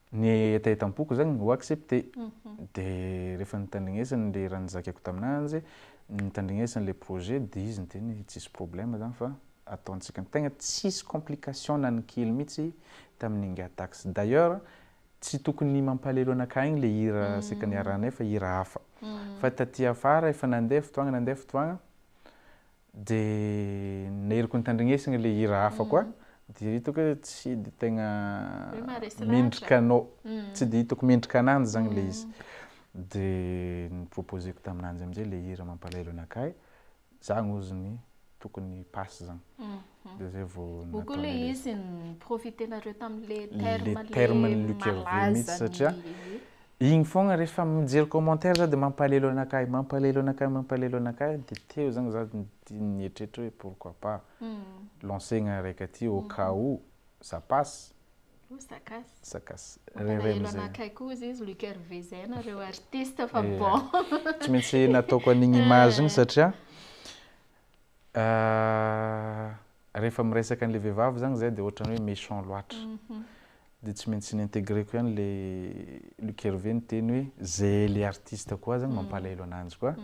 S2: Ny hetaheta am-poko zany ho accepté. Dia rehefa nitandrignesana ilay raha nizakako taminanjy, nitandrignesana ilay projet dia izy niteny hoe tsisy problème zany fa ataontsika. Tegna tsisy complication na ny kely mihitsy tamin'ny Ingahy Tax. D'ailleurs tsy tokony mampalahelo anakahy igny ilay hira saika niarahanay fa hira hafa. Fa taty afara efa nandeha fotoagna nandeha fotoagna, De niriko nitandrignesina le hira hafa koa de hitako hoe tsy de tegna mendrika anao, tsy de hitako mendrika ananjy zany le izy, de ny proposeko taminanjy amizay le hira mampalahelo anakahy, zany ozy ny tokony passe zany. dia izay vao nataonay resy. Moa koa ilay izy
S1: ni-profiter-nareo tamin'ilay terme ilay terme ny Luc
S2: Hervé mihitsy satria iny foagna rehefa mijery commentaire za dia mampalelo anakay, mampalelo anakay, mampalelo anakay dia teo zany za nieritreritra hoe pourquoi pas lancegna araiky aty au cas où ça passe, ça casse, ça casse, mampalahelo anakay
S1: koa hozy izy Luc Hervé zay nareo artiste fa bon. Tsy maintsy
S2: nataoko an'igny image igny satria. Rehefa miresaka an'ilay vehivavy zany zay dia ohatran'ny hoe méchant loatra. Dia tsy maintsy ni-intégrer-ko ihany ilay Luc Hervé niteny hoe zay ilay artiste koa zany mampalahelo ananjy koa.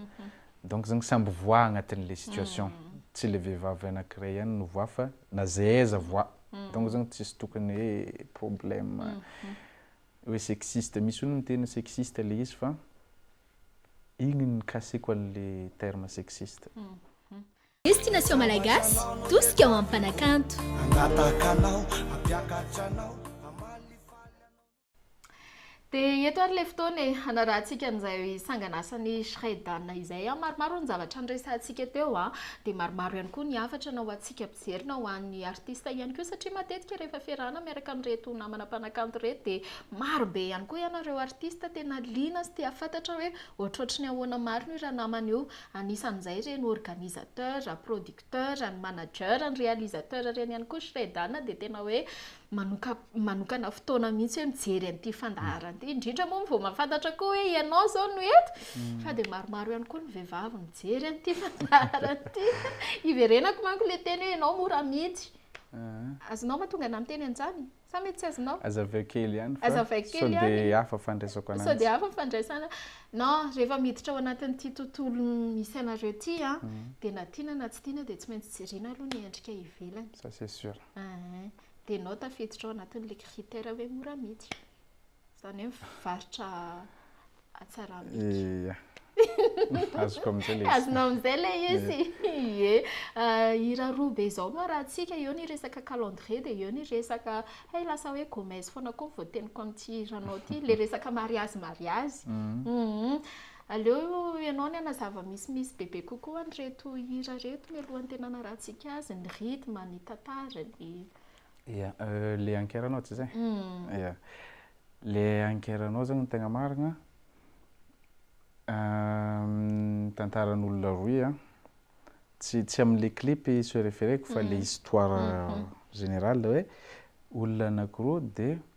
S2: Donc zany samby voix agnatin'ilay situation. Tsy ilay vehivavy anankiray ihany no voix fa na zay aiza voix. Donc zany tsisy tokony hoe problème hoe sexiste. Misy olo miteny sexiste ilay izy fa. Igny nikasiko an le terme sexiste.
S3: Destination Malagasy, tosika ho amin'ny mpanakanto. Hangataka anao, hampiakatra anao, hamaly
S1: faly anao no. Dia eto ary ilay fotoana e, hanarahantsika an'izay sangan'asan'i Shredana izay. Maromaro ny zavatra niresahantsika teo, dia maromaro ihany koa ny hafatra naohantsika. Miverina ho an'ny artista ihany koa satria matetika rehefa fiarahana miaraka amin'ireto namana mpanakanto ireto dia maro be ihany koa ianareo artista tena liana sy te hahafantatra hoe ohatrohatry ny ahoana marina io ranamana io. Anisan'izay ireny organisateur, producteur, ny manager, ny réalisateur ireny ihany koa. Shredana dia tena hoe. manoka manokana fotoana mihitsy hoe mijery an'ity fandaharana ity, indrindra moa vao mahafantatra koa hoe ianao izao no eto, mm. fa dia maromaro ihany koa ny vehivavy mijery an'ity fandaharana ity. Iverenako manko ilay teny hoe ianao mora miditra. Ah. Azonao ma tonga an'amin'ny teny anjany? Sa mety tsy azonao? Aza avy kely
S2: ihany fa Aza kely so dia hafa fandraisako ananjy. So dia hafa fandraisana.
S1: No, rehefa miditra ao anatin'ity tontolo misy anareo ity, ah, mm. dia na tiana na tsy tiana dia tsy maintsy jerena aloha ny endrika ivelany. Ça c'est sûr.
S2: Ahh, dia
S1: enao tafiditra ao anatin'ilay critère hoe mora amidy, izany hoe mivarotra hatsara amidy. Iya, azoko
S2: amin'izay ilay izy. Azonao amin'izay ilay izy,
S1: ie. Hira roa be izao no arahantsika, eo ny resaka calendrier dia eo ny resaka, hay lasa hoe gomez foana koa ny voateniko amin'ity hiranao ity, ilay resaka mariazy mariazy. Aleo ianao ny hanazava misimisy bebe kokoa an'ireto hira ireto mialohan'ny tena hanarahantsika azy, ny rythme, ny tantara, ny. Ia,
S2: ilay ankeranao tsy izay? Ia. Ilay ankeranao izany no tegna marina an, tantaran'olona rohy an, tsy tsy amin'ilay clip se réfère-ko fa ilay histoire générale hoe olona anankiroa dia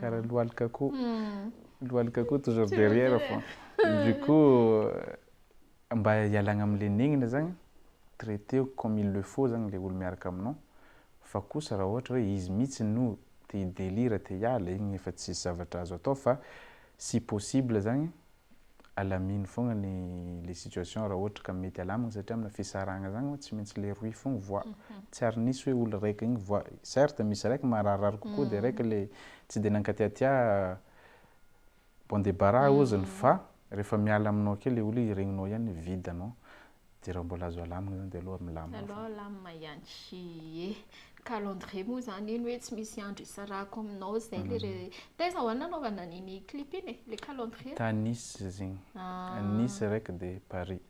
S2: karaha lohalika akoho lohalika akoho toujours derrière fô du coup mba hialagna amle nenina zagny traiteo comme il le faut zagny le olo miaraka aminao fa kosa raha ohatra hoe izy mitsy no te hi delire te hiala igny efa tsisy zavatra azo atao fa si possible zagny alamino fogna ny le situation raha ohatra ka mety alamina satria amina fisarahagna zagny tsy maintsy le rohy fogna voa tsy ary nisy hoe olo raiky igny voa certes misy raiky mararirary kokoa de raiky le tsy de nankatiatia bon debarras oziny fa refa miala aminao akeo le olo igny regninao ihany vide anao dia raha mbola azo alamina izany dia aleo milamina foana. Aleo alamina
S1: ihany. Ie. Ny calendrier moa izany iny hoe tsy misy andro isarahako aminao izay ilay re... Taiza ho'a no nanaovana an'iny clip iny e? Ilay calendrier? Tany Nice izy
S2: iny. Nice iraiky dia Paris.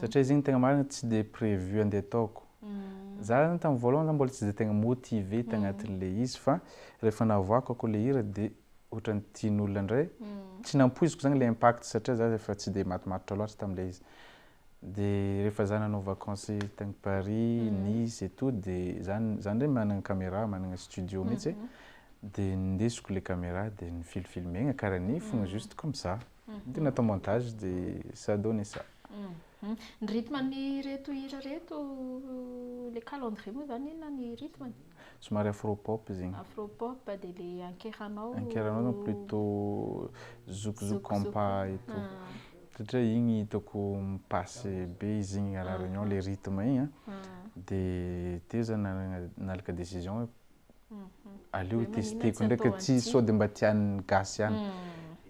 S2: Satria izy iny tegna marina tsy dia prévu andeha ataoko. Za zany tamin'ny voalohany zany mbola tsy dia tegna motivé tagnatin'ilay izy fa rehefa navoakako ako ilay hira dia ohatran'ny tian'olona indray. Tsy nampoiziko zany ilay impact satria za efa tsy dia matomatotra loatra tamin'ilay izy. Dia rehefa za nanao vacance tagny Paris, Nice et tout dia za za ndray managna camera, managna studio mihitsy e, dia nindesiko le camera dia nifilfilmegna kara ny fogna juste comme ça, dia natao montage dia ça donne ça. Ny rythme-n'ireto hira reto, le
S1: calendrier moa zany inona ny rythme-ny? Somary afro
S2: pop zegny. Afro pop dia le
S1: ankeranao. Ankeranao zany plutôt
S2: zouk zouk compas et tout. satria igny hitako mi-passe be izy igny à la réunion le rythme igny an, de teo za nanagna nalaka décision hoe aleo ho tester-ko ndraika tsy sôde mba tian'ny gasy ihany,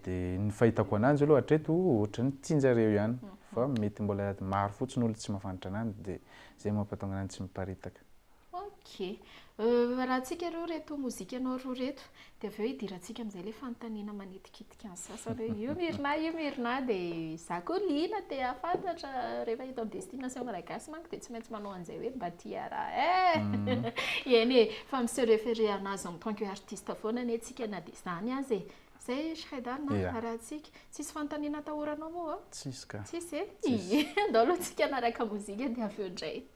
S2: de ny fahitako ananjy aloha hatreto ohatran'ny tianjareo ihany fa mety mbola maro fotsiny olo tsy mahafantatra ananjy de zay mampatonga ananjy tsy miparitaka. Ok.
S1: Euh, arahantsika ireo reto mozikanao roa reto, dia avy eo idirantsika amin'izay ilay fanontaniana manitikitika ny sasany hoe io Myrna io Myrna, dia izaho koa liana te hahafantatra, rehefa eto amin'ny Destination Malagasy manko dia tsy maintsy manao an'izay hoe mba ity iaraha eh! eny e, fa mi-se référer an'azy en tant que artiste foana anie tsika na dia izany aza e! izay e Shredar na Ia. arahantsika, tsisy fanontaniana atahoranao moa? Tsisy ka. Tsisy e?
S2: Tsisy. Ia,
S1: ndao aloha tsika hanaraka mozika dia avy eo indray.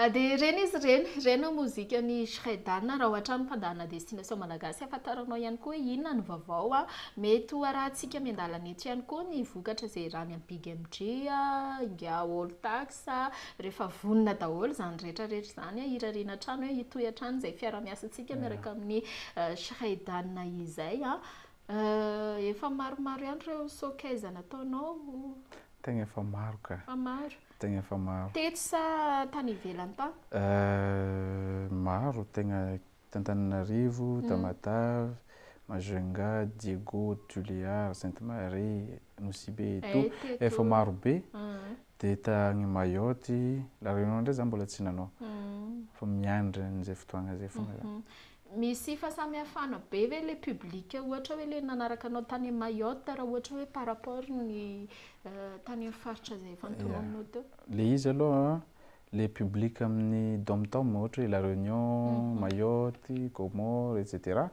S1: Ah de ireny izy ireny, ireny no mozikan'i Shredana, raha hoatrany mpandàna destination malagasy afantaranao ihany koa hoe inona ny vaovao an, mety ho arahantsika miandalana eto ihany koa ny vokatra izay iarahany amin'i BigMG an, ingahy All Tax an, rehefa vonona daholo izany rehetra rehetra izany an, irariana hatrany hoe hitohy hatrany izay fiarahamiasantsika miaraka amin'i Shredana izay an, efa maromaro ihany ireo sokaizana ataonao. Tegna
S2: efa maro ka. Efa maro. tegna efa maro. Teto sa
S1: tany ivelany tany? Maro
S2: tegna t'Antananarivo, Tamatave, Majunga, Diego, Tuléar, Sainte Marie, Nosibe et tout efa maro be, de tany Mayotte, La Réunion ndray za mbola tsy nanao fa miandry an'izay fotoagna zay fogna za. Misy
S1: fahasamihafana be ve le public ohatra hoe le nanaraka anao tany Mayotte raha ohatra hoe par rapport ny tany amin'ny faritra izay efa nitononinao teo? Le izy aloha
S2: an, le public amin'ny dom tom ohatra hoe la reunion, Mayotte, Comores etc,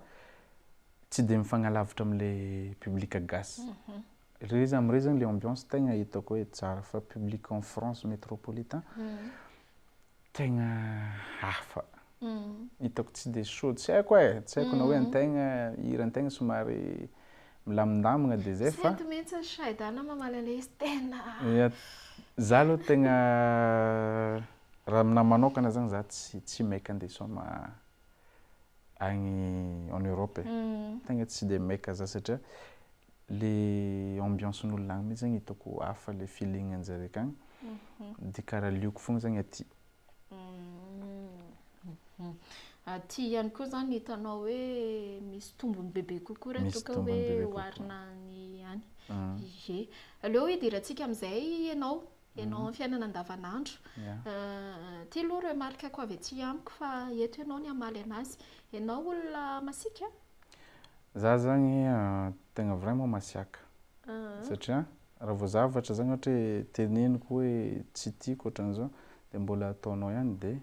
S2: tsy dia mifagnalavitra amle public gasy, le za amre zany le ambiance tegna hitako hoe tsara, fa public en France metropolitain Tegna hafa. Hitako tsy dia soa, tsy haiko e, tsy haiko na hoe antegna, hira antegna somary milamindamigna dia zay fa. Tsy mety mihitsy ny Shydana
S1: mamaly an'ilay izy tena. Ia, za
S2: aloha tegna raha aminahy manokana zany za tsy tsy maika andeha hisaoma. agny en Europe e, tegna tsy dia maika za satria le ambiance-n'olona agny mihitsy zany hitako hafa le feeling anjare akagny, de karaha lioko fogna zany aty.
S1: Aty ihany koa zany hitanao hoe misy tombony bebe kokoa raha toa ka hoe oharina ny any, ie. Aleo hidira-tsika amin'izay ianao. ianao amin'ny fiainana andavanandro. Ity aloha remarque-ko avy aty amiko fa eto ianao ny hamaly anazy. Ianao olona masiaka? Za
S2: zany tegna vraiment masiaka. Satria raha vao zavatra zany ohatra hoe teneniko hoe tsy tiako ohatran'izao dia mbola ataonao ihany dia.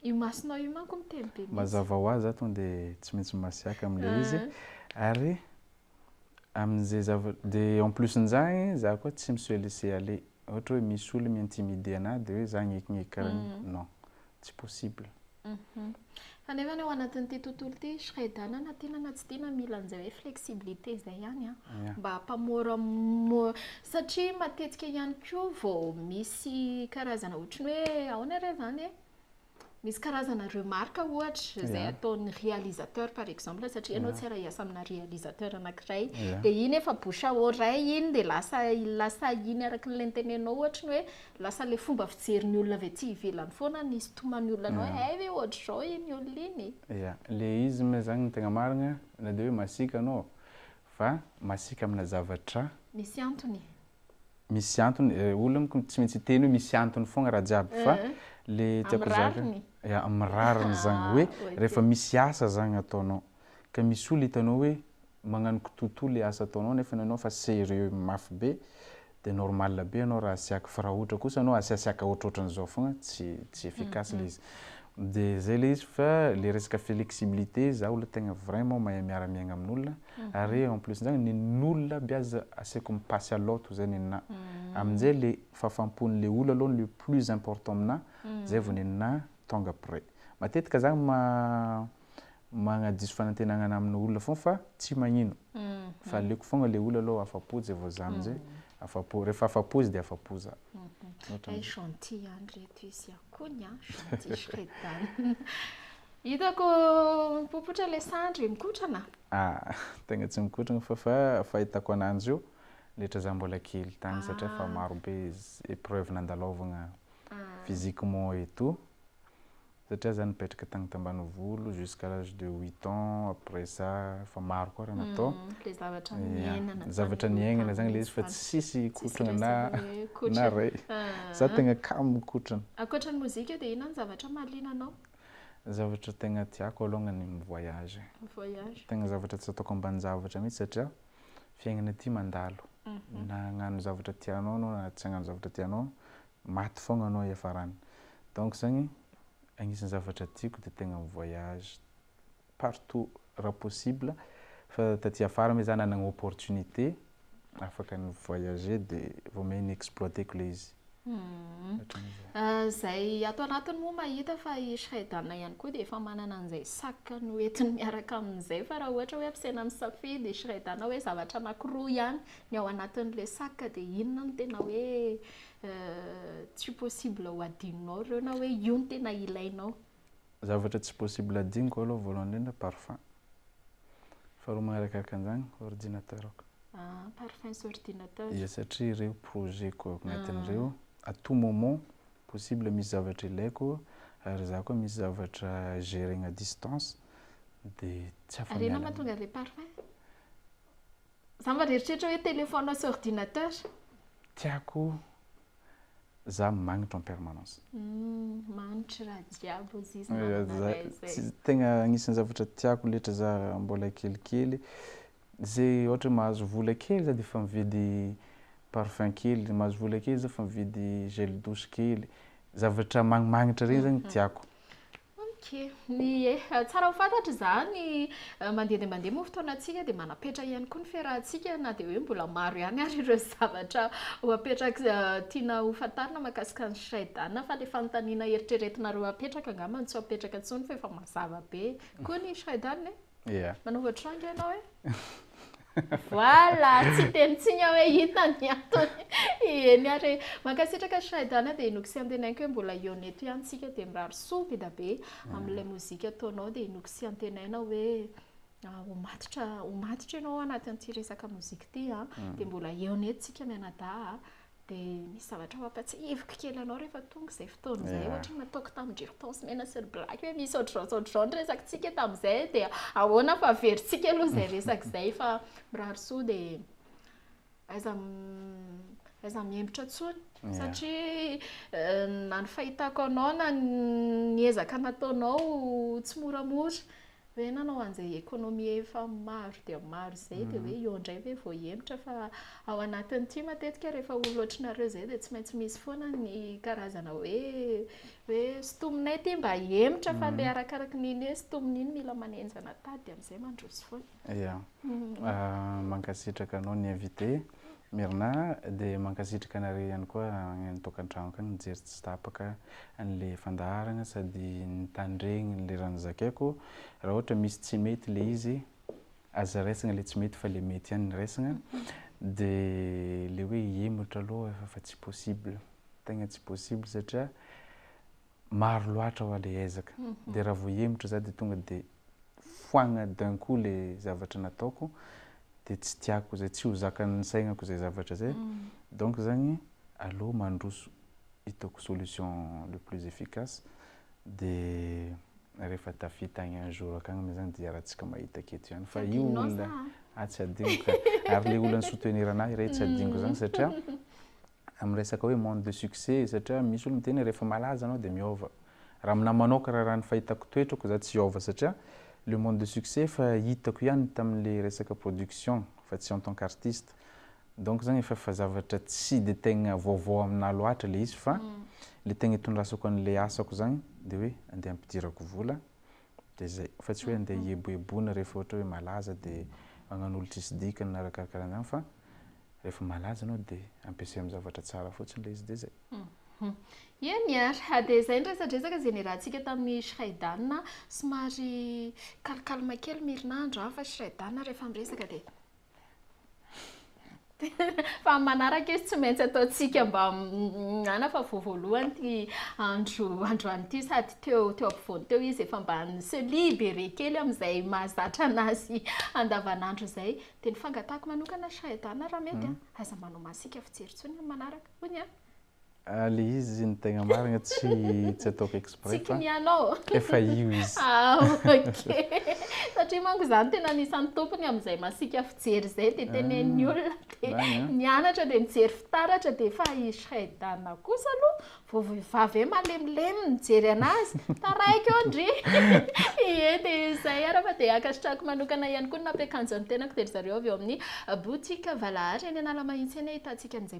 S2: Io
S1: masonao io manko miteny be mihitsy. Mazava ho azy za tonga dia
S2: tsy maintsy masiaka amin'ilay izy. Ary Amin'izay zava, de en plus n'izany za koa tsy mi-se laisser aller, ohatra hoe misy olo mi-intimider anah de hoe za agnekineky karaha io, non, tsy possible.
S1: Fa nefany ao anatin'ity tontolo ity Shredana na tiana na tsy tiana mila an'izay hoe flexibilité izay ihany an, mba hampamora satria matetika ihany koa vao misy karazana ohatry ny hoe ahoana re zany e? Misy karazana remarque ohatra izay ataon'ny réalisateur par exemple satria ianao tsy hiara-hiasa amina réalisateur anankiray dia iny efa bouche à oreille iny dia lasa lasa iny araka ilay notenenao ohatra ny hoe lasa ilay fomba fijerin'ny olona avy aty ivelany foana ny isintoman'ny olona anao hoe hay ve ohatr'izao iny olona iny e! Ia, ilay izy moa
S2: izany no tegna marigna na dia hoe masiaka anao fa masiaka amina zavatra. Misy antony.
S1: misy
S2: antony eh, olona moko tsy maintsy hiteny hoe misy antony fogna raha jiaby fa mhm. le tiako zaka ya amin'ny rariny zagny hoe rehefa misy asa zagny ataonao ka misy olona hitanao hoe magnano kitoto le asa ataonao nefa nanao fa sérieux mafy be de normal be anao raha asiaka fa raha ohatra kosa anao asiasiaka ohatrohatran'izao fogna tsy tsy efficace mhm. le izy de zay le izy fa le resaka flexibilité za olona tegna vraiment mahay miara miaigna amin'olona Ary en plus zany nen'olona aby aza aseko mipasy à l'autre zay nenà. Amin'jay le fahafampon'le olona aloha le plus important aminà, zay vao nenà tongue après. Matetika za ma magnadiso fanantenagna anà aminà olona foagna fa tsy magnino. Fa aleoko foagna le olona aloha afapo zay vao za amin'jay afapo. Rehefa afapo izy de afapo za. Hay gentil ihany
S1: reto izy an! Kony an! Gentil shredana. Hitako mipopotra ilay sandry, mikotrana? Ah, tegna
S2: tsy mikotrana fa fa fahitako ananjy io letra za mbola kely tagny satria efa maro be épreuve nandalaovagna physiquement et tout satria za nipetraka tagny tambanivolo jusqu'à l'âge de huit ans après ça efa maro koa raha natao, ya, zavatra niaignana zagny le izy fa tsisy hikotrana na na ray, za tegna kamo mikotrana. Ankoatran'ny mozika dia
S1: inona no zavatra mahaliana anao? Zavatra
S2: tegna tiako alongany ny voyage e, tegna zavatra tsy ataoko ambanin-javatra mihitsy satria fiaignana ity mandalo, na hagnano zavatra tianao anao na tsy hagnano zavatra tianao, maty foagna anao hiafarany, donc zany agnisan'ny zavatra tiako de tegna mi-voyage. partout raha possible fa taty afara me za nanagna opportunité afaka ny voyager de vao me ny exploiter-ko le izy zay
S1: ato anatiny moa mahita fa i Shredana ihany koa dia efa manana an'izay sac noentiny miaraka amin'izay fa raha ohatra hoe ampisaina misafidy i Shredana hoe zavatra anankiroa ihany ny ao anatin'ilay sac dia inona no tena hoe tsy possible ho adinonao ireo na hoe io no tena ilainao zavatra tsy
S2: possible adinoko aloha voalohany indrindra parfum. Faharoa magnarakaraky an'izany ordinateur-ko. Ah, parfum sy
S1: ordinateur. Ia, satria ireo
S2: projet-ko ao agnatin'ireo, à tout moment, possible misy zavatra ilaiko ary za koa misy zavatra geregna à distance dia tsy afa-miala aminy. Ary inona mahatonga an'ilay parfum?
S1: Za mba reritreritra hoe téléphone sy ordinateur. Tiako
S2: za magnitra en permanence. Hum magnitry
S1: raha jiaby hoy izy namana ray zay. Tegna agnisan'ny
S2: zavatra tiako letra za raha mbola kelikely, ze ohatra hoe mahazo vola kely za defa mividy parfum kely, mahazo vola kely za fa mividy gel douche kely, zavatra magnimagnitra regny zany tiako. Ok,
S1: ny eeh, tsara ho fantatra izany, mandeha dia mandeha moa fotoanantsika dia manapetra ihany koa ny fiarahantsika na dia hoe mbola maro ihany ary ireo zavatra ho apetraka tiana ho fantarina mahakasika an'i Shraidhana fa ilay fanontaniana eritreretinareo hapetraka angamba no tsy ho apetraka intsony fa efa mazava be koa ny Shraidhana e? Manova tranga ianao e? Voilà! Tsy dia nitsiny aho hoe inona ny antony. Eny ary e! Mankasitraka Shaidan dia inoako sy antenaiko hoe mbola hihaona eto ihany isika dia mirary soa Bedabe amin'ilay mozika ataonao dia inoako sy antenaina hoe ho matotra ho matotra ianao anatin'ity resaka mozika ity an! dia mbola hihaona eto isika mianadahy an! dia misy zavatra ho ampatsahiviko kely anao rehefa tonga izay fotoana izay, ohatra nataoko tamin-dry Hortense Mena sy ry Black hoe misy ohatr'izao sy ohatr'izao ny resakintsika tamin'izay dia ahoana fa averintsika aloha izay resaka izay fa mirary soa dia aiza aiza mihembotra intsony satria eh, na ny fahitako anao na ny ezaka nataonao tsy moramora Hoe nanao an'izay économie efa maro dia maro izay dia hoe eo indray ve vao hihemotra fa ao anatin'ity matetika rehefa olona ohatranareo izay dia tsy maintsy misy foana ny karazana hoe hoe sintominay ity mba hihemotra fa ilay arakaraky ny iny hoe sintominy iny mila manenjana tady dia amin'izay mandroso foana. Ya.
S2: Mankasitraka anao ny invité. Mirna de mankasitraka anareo ihany koa any an tokantranoko any nijery tsy tapaka anle fandaharana sady nitandregny le raha nozakaiko raha ohatra misy tsy mety le izy aza raisagna le tsy mety fa le mety ihany no raisagna de le hoe hihemotra aloha efa tsy possible tegna tsy possible satria maro loatra hoa le ezaka de raha vao hihemotra za de tonga de foagna d'un coup le zavatra nataoko de tsy tiako zay tsy ho zakan'ny saignako zay zavatra zay donc zany aleo mandroso hitako solution le plus efficace de rehefa tafita agny un jour akagny moa zany de iarahantsika mahita aketo ihany fa io olona ah tsy adinoko ka ary le olona ni-soutenir anahy re tsy adinoko zany satria amin'ny resaka hoe monde de succès satria misy olona miteny hoe rehefa malaza anao dia miova. Raha aminà manoaka raha raha ny fahitako toetrako za tsy hiova satria le monde de succès efa hitako ihany tamin'le resaka production fa tsy en tant qu'artiste. Donc zany efa efa zavatra tsy dia tegna vaovao aminà loatra le izy fa le tegna itondrasako an'le asako zany dia hoe andeha ampidirako vola dia zay, fa tsy hoe andeha hieboeboana rehefa ohatra hoe malaza dia hagnano olo tsisy dikany na raha karakarahan'izany fa rehefa malaza ianao dia ampiasay amin'ny zavatra tsara fotsiny ilay izy dia zay.
S1: Eny ary, dia izay ny resadresaka izay niarahantsika tamin'i Shridan a, somary calme calme kely ny herinandro an, fa Shridan rehefa miresaka dia. Fa amin'ny manaraka izy tsy maintsy ataontsika mba mihinana fa vao voalohany ity andro androany ity sady teo teo ampovoany teo izy efa mba ni-se libere kely amin'izay mahazatra an'azy andavanandro izay. Dia ny fangatahako manokana Shahidana raha mety an! aza manao masika fijery intsony amin'ny manaraka. Hoy ny ahy. Ah le
S2: izy ny tegna marigna tsy tsy ataoko exprès Tsy fa kinianao? efa io izy. Ah ok.
S1: Satria manko za no tena anisan'ny tompony amin'izay masiaka fijery izay dia tenenin'ny olona dia Zany an. nianatra dia nijery fitaratra dia efa i Shreidana kosa aloha vao vehivavy hoe malemilemy mijery anazy taraiky eo ndry! Ie dia izay ary fa dia ankasitrahako manokana ihany koa ny mampiakanjo ny tenako dia ry zareo avy ao amin'ny boutique Valahary eny Analamahitsy eny ahitantsika an'izay